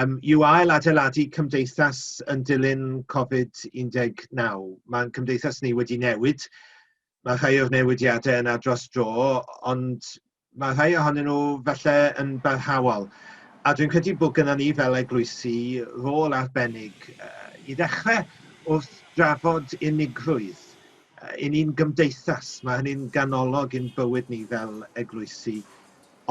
um, yw ail adeiladu cymdeithas yn dilyn Covid-19. Mae'n cymdeithas ni wedi newid. Mae rhai o'r newidiadau yna dros dro, ond mae rhai ohonyn nhw felly yn barhaol. A dwi'n credu bod gyda ni fel eglwysi rôl arbennig uh, i ddechrau wrth drafod unigrwydd uh, i ni'n gymdeithas. Mae hynny'n ganolog i'n bywyd ni fel eglwysi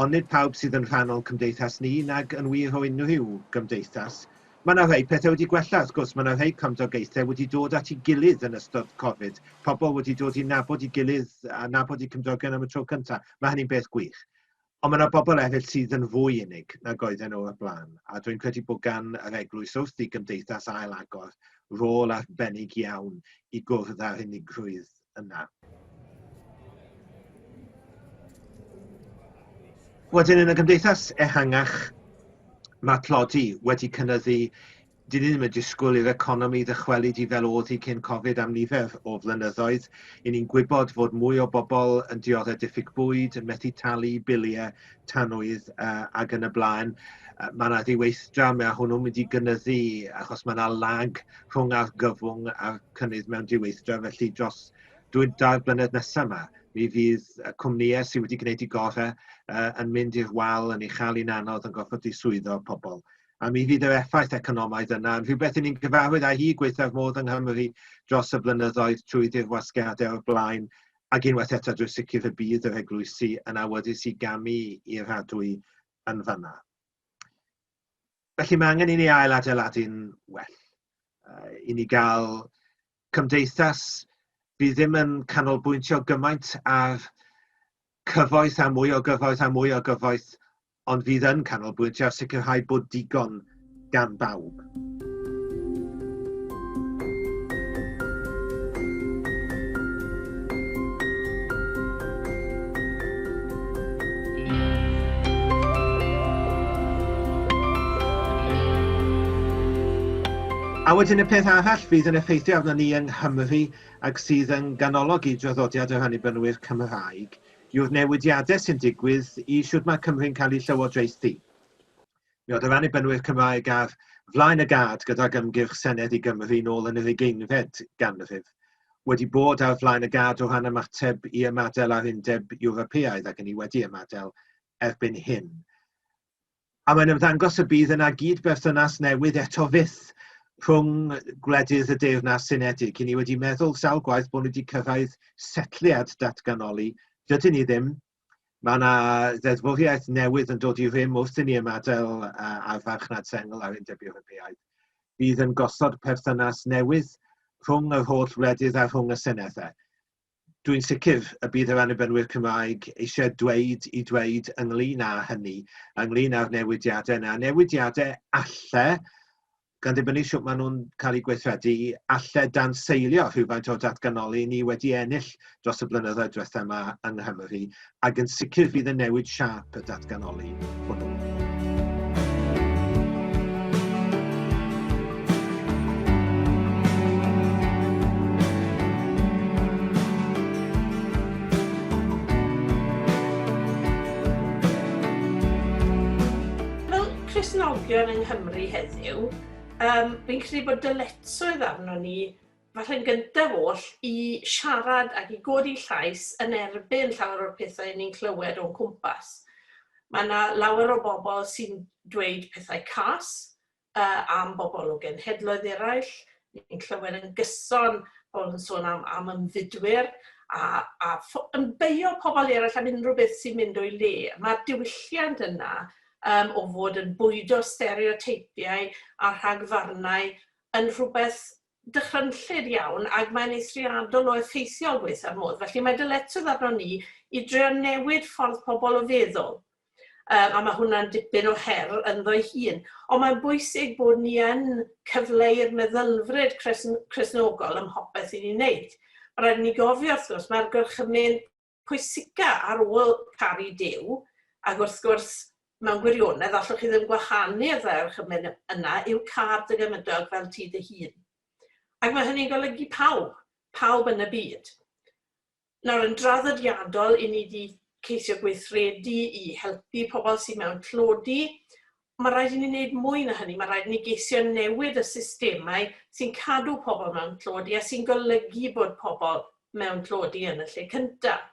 ond nid pawb sydd yn rhan o'n cymdeithas ni, nag yn wir o unrhyw gymdeithas. Mae 'na rhai pethau wedi gwella, wrth gwrs, mae 'na rhai cymdogaethau wedi dod at ei gilydd yn ystod Covid, pobl wedi dod i nabod i gilydd a nabod i cymdogion am y tro cyntaf, mae hynny'n beth gwych. Ond mae 'na bobl eraill sydd yn fwy unig nag oedden nhw o'r blaen, a dwi'n credu bod gan yr eglwys wrth i gymdeithas ail agor rôl arbennig iawn i gwrdd â'r unigrwydd yna. Wedyn yn y gymdeithas ehangach, mae tlodi wedi cynnyddu dyn ni ddim yn disgwyl i'r economi ddychwelyd i fel oedd hi cyn Covid am nifer o flynyddoedd. I ni'n gwybod fod mwy o bobl yn dioddef diffyg bwyd, yn methu talu biliau, tanwydd uh, ac yn y blaen. Uh, mae yna ddiweithdra, mae hwnnw'n mynd i gynyddu achos mae yna lag rhwng argyfwng a'r cynnydd mewn diweithdra, felly dros dwi'n dair blynedd nesaf yma, mi fydd y cwmnïau sydd wedi gwneud i gorau uh, yn mynd i'r wal, yn ei chael i'n anodd, yn gorfod i swyddo pobl. A mi fydd yr effaith economaidd yna, yn rhywbeth yn ni'n gyfarwydd â hi gweithaf modd yng Nghymru dros y blynyddoedd trwy ddi'r wasgiadau o'r blaen, ac unwaith eto drwy sicr y bydd yr eglwysi yn awyddus i gamu i'r hadwy yn fanna. felly mae angen i ni ail adeiladu'n well. Uh, I ni gael cymdeithas bydd ddim yn canolbwyntio gymaint ar cyfoeth a mwy o gyfoeth a mwy o gyfoeth, ond fydd yn canolbwyntio ar sicrhau bod digon gan bawb. A wedyn y peth arall fydd yn effeithio arno ni yng Nghymru ac sydd yn ganolog i draddodiad yr Annibynwyr Cymraeg yw'r newidiadau sy'n digwydd i siwt mae Cymru'n cael ei llywodraethu. Mi oedd yr Annibynwyr Cymraeg ar flaen y gad gydag ymgyrch Senedd i Gymru nôl yn yr ugeinfed ganrif, wedi bod ar flaen y gad o ran ymateb i ymadael â'r Undeb Ewropeaidd ac yn i wedi ymadael erbyn hyn. A mae'n ymddangos y bydd yna gyd-berthynas newydd eto fyth rhwng gwledydd y Deyrnas Unedig. I ni wedi meddwl sawl gwaith bod ni wedi cyrraedd setliad datganoli, dydyn ni ddim, Mae yna ddeddfwriaeth newydd yn dod i rym wrth i ni ymadael â'r farchnad sengl a'r Undeb Ewropeaidd. Bydd yn gosod perthynas newydd rhwng yr holl wledydd a rhwng y seneddau. Dwi'n sicr y bydd yr annibynwyr Cymraeg eisiau dweud i dweud ynglyn â hynny, ynglyn â'r newidiadau yna, newidiadau alle gan ddibynnu sut maen nhw'n cael eu gweithredu, allai danseilio rhywfaint o'r datganoli ni wedi ennill dros y blynyddoedd diwethaf yma yng Nghymru, ac yn sicr fydd yn newid siâp y datganoli hwnnw. Cristnogion yng Nghymru heddiw, yym, fi'n credu bod dyletswydd arnon ni, falle yn gyntaf oll, i siarad ac i godi llais yn erbyn llawer o'r pethau 'yn ni'n clywed o'n cwmpas. Mae 'na lawer o bobl sy'n dweud pethau cas yy am bobl o genhedloedd eraill, Ni'n clywed yn gyson pobl yn sôn am am ymfudwyr a a pho- yn beio pobl eraill am unrhyw beth sy'n mynd o'i le. Mae'r diwylliant yna um, o fod yn bwydo stereoteipiau a rhagfarnau yn rhywbeth dychrynllyd iawn ac mae'n eithriadol o effeithiol gweitha'r modd. Felly mae dyletwdd arno ni i drio newid ffordd pobl o feddwl Yym, a mae hwnna'n dipyn o her ynddo'i hun. Ond mae'n bwysig bod ni yn cyfleu'r meddylfryd cresn, cresnogol ym mhopeth i ni'n wneud. Mae rhaid ni gofio, wrth gwrs, mae'r gorchymyn pwysica ar ôl caru Duw, ac wrth gwrs, mewn gwirionedd, allwch chi ddim gwahanu y ddau orchymyn yna, yw car dy gymydog fel ti dy hun. Ac mae hynny'n golygu pawb, pawb yn y byd. Nawr yn draddodiadol i ni di ceisio gweithredu i helpu pobl sydd mewn tlodi, mae rhaid i ni wneud mwy na hynny, mae rhaid i ni geisio newid y systemau sy'n cadw pobl mewn tlodi a sy'n golygu bod pobl mewn tlodi yn y lle cyntaf.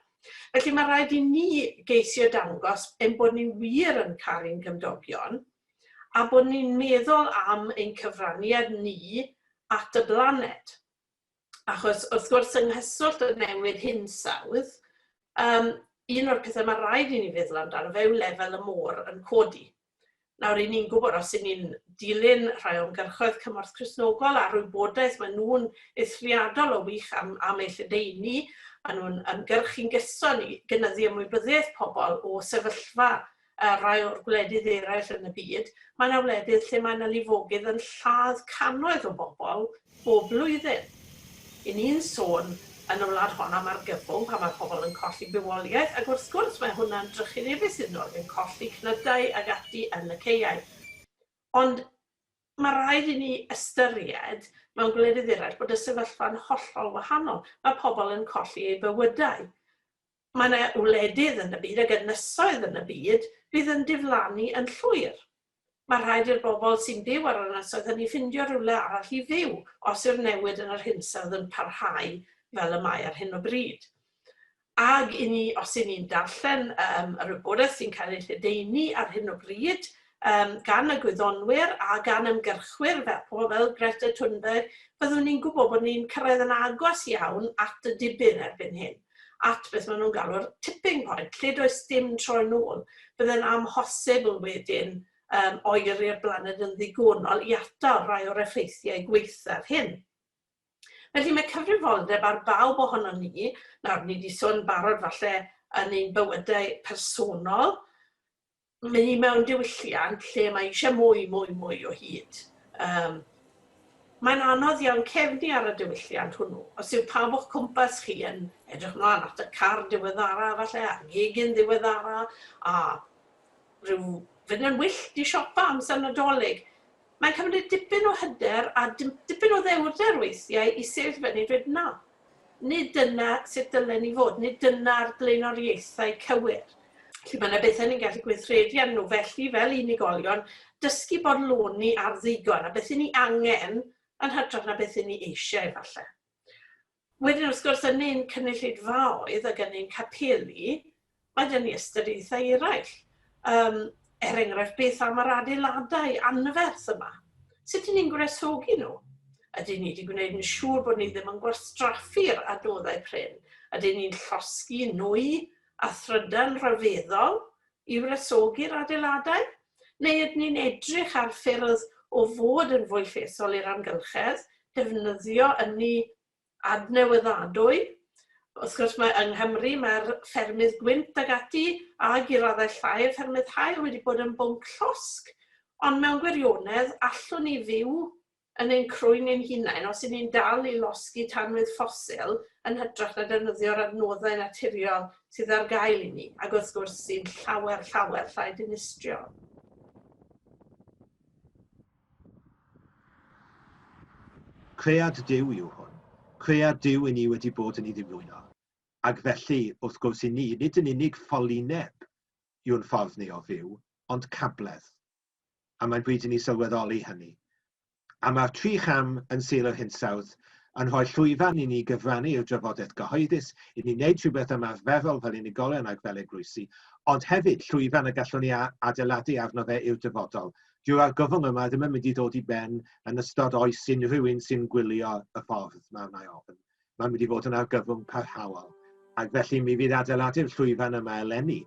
Felly mae rhaid i ni geisio dangos ein bod ni wir yn cael ein cymdogion a bod ni'n meddwl am ein cyfraniad ni at y blaned. Achos wrth gwrs yng nghyswllt y newid hinsawdd, um, un o'r pethau mae rhaid i ni feddwl amdano fe yw lefel y môr yn codi. Nawr, i ni'n gwybod, os i ni'n dilyn rhai o'n gyrchoedd cymorth Cresnogol a'r wybodaeth mae nhw'n eithriadol o wych am, am ei lledeini, maen nhw'n ymgyrchu'n gyson i gynyddu ymwybyddiaeth pobl o sefyllfa a rhai o'r gwledydd eraill yn y byd, mae yna wledydd lle mae yna lifogydd yn lladd cannoedd o bobl bob blwyddyn. Y'n ni'n sôn yn y wlad hon am argyfwng pan mae pobl yn colli bywoliaeth, ac wrth gwrs mae hwnna'n drychinebus iddyn nhw ac yn colli cnydau ag ati yn y caeau. Ond mae rhaid i ni ystyried mewn gwledydd eraill bod y sefyllfa'n hollol wahanol. Mae pobl yn colli eu bywydau. Mae yna wledydd yn y byd, ac ynysoedd yn y byd, fydd yn diflannu yn llwyr. Mae rhaid i'r bobl sy'n byw ar yr ynysoedd hynny ffindio rhywle arall i fyw os yw'r newid yn yr hinsawdd yn parhau fel y mae ar hyn o bryd. Ag i ni, os i ni'n darllen um, yr wybodaeth sy'n cael ei lledaenu ar hyn o bryd, um, gan y gwyddonwyr a gan ymgyrchwyr fel pobl fel Greta Thunberg, byddwn ni'n gwybod bod ni'n cyrraedd yn agos iawn at y dibyn erbyn hyn. at beth maen nhw'n galw'r tipping point, lle does dim tro yn ôl. Byddai'n amhosibl wedyn um, oeri'r blaned yn ddigonol i atal rhai o'r effeithiau gweithaf hyn. Felly mae cyfrifoldeb ar bawb ohonom ni, nawr ni wedi sôn barod falle yn ein bywydau personol, Mae hi mewn diwylliant lle mae eisiau mwy, mwy, mwy o hyd. Um, mae'n anodd iawn cefnu ar y diwylliant hwnnw. Os yw pawb o'ch cwmpas chi yn edrych mlaen at y car diweddara, falle, a'r gegin ddiweddara, a rhyw fynd yn wyllt i siopa amser nadolig, mae'n cymryd dipyn o hyder a dipyn o ddewrder weithiau i sefyll fyny dweud na, Nid dyna sut dylen ni fod, nid dyna'r blaenoriaethau cywir. Felly, mae yna bethau ni'n gallu gweithredu arnyn nhw. Felly, fel unigolion, dysgu bodloni ar ddigon, a beth 'yn ni angen yn hytrach na beth 'yn ni eisiau, efallai. Wedyn, wrth gwrs, yn ein cynulleidfaoedd ac yn ein capeli, Mae gen i ystyriaethau eraill. Yym, er enghraifft, beth am yr adeiladau anferth yma? Sut 'yn ni'n gwresogi nhw? Ydyn ni 'di gwneud yn siŵr bod ni ddim yn gwastraffu'r adnoddau prin? Ydyn ni'n llosgi nwy a thrydan rhyfeddol i wresogi'r adeiladau? Neu ydyn ni'n edrych ar ffyrdd o fod yn fwy llesol i'r amgylchedd, defnyddio ynni adnewyddadwy. Wrth gwrs mae yng Nghymru mae'r ffermydd gwynt ag ati ag i raddau llai y ffermydd haul wedi bod yn bwnc llosg ond mewn gwirionedd allwn ni fyw yn ein crwyn ein hunain os yn ni'n dal i losgi tanwydd ffosil yn hytrach na defnyddio'r adnoddau naturiol sydd ar gael i ni ac wrth gwrs sy'n llawer llawer llai dinistriol. Cread Duw yw hwn. Cread Duw i ni wedi bod yn ei ddiflwyno. Ac felly, wrth gwrs i ni, nid yn unig ffolineb yw'n ffordd ni o fyw, ond cabledd. A mae'n bryd i ni sylweddoli hynny. A mae'r tri cham yn Sul yr Hinsawdd yn rhoi llwyfan i ni gyfrannu i'r drafodaeth gyhoeddus, i ni wneud rhywbeth ymarferol fel unigolion ac fel eglwysi, ond hefyd llwyfan y gallwn ni adeiladu arno fe i'r dyfodol, dyw'r argyfwng yma ddim yn mynd i ddod i ben yn ystod oes unrhyw un sy'n gwylio y ffordd mae wna i ofyn. Mae'n mynd i fod yn argyfwng parhaol. Ac felly mi fydd adeiladu'r llwyfan yma eleni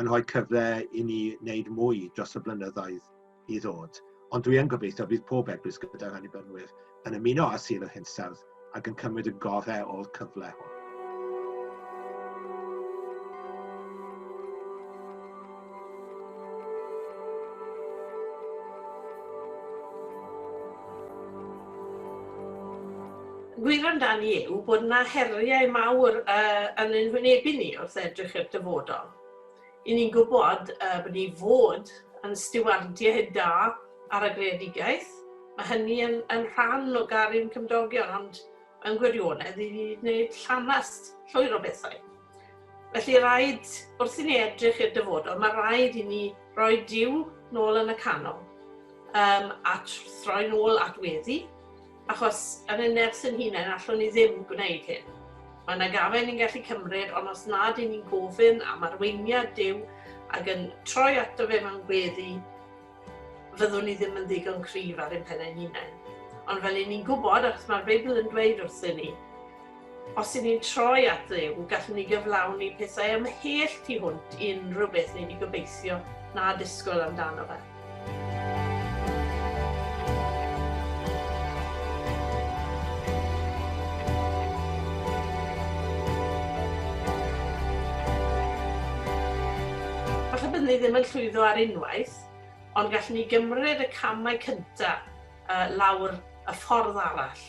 yn rhoi cyfle i ni wneud mwy dros y blynyddoedd i ddod. Ond dwi yn gobeithio bydd pob eglwys gyda'r annibynwyr yn ymuno â Sir yr Hinsawdd ac yn cymryd y gorau o'r cyfle hwn. gwir amdani yw bod yna heriau mawr uh, yn ein hwynebu ni wrth edrych i'r dyfodol. I ni'n gwybod uh, bod ni fod yn stiwardiau da ar y greadigaeth. Mae hynny yn, yn rhan o garin cymdogion, ond yn gwirionedd i ni wneud llanast llwyr o bethau. Felly rhaid, wrth i ni edrych i'r dyfodol, mae rhaid i ni roi diw nôl yn y canol um, a throi'n ôl at weddi, Achos yn y nerth yn hunain allwn ni ddim gwneud hyn. Mae yna gafen ni'n gallu cymryd, ond os nad yn ni'n gofyn am arweiniad Duw ac yn troi ato fe mewn gweddi, fyddwn ni ddim yn ddigon cryf ar ein pennau'n hunain. Ond fel i ni'n gwybod, achos mae'r Beibl yn dweud wrthyn ni, Os i ni'n troi at Dduw, gallwn ni gyflawni pethau ymhell tu hwnt i unrhyw beth ni wedi gobeithio na disgwyl amdano fe. Falle byddwn ni ddim yn llwyddo ar unwaith, ond gallwn ni gymryd y camau cyntaf lawr y ffordd arall.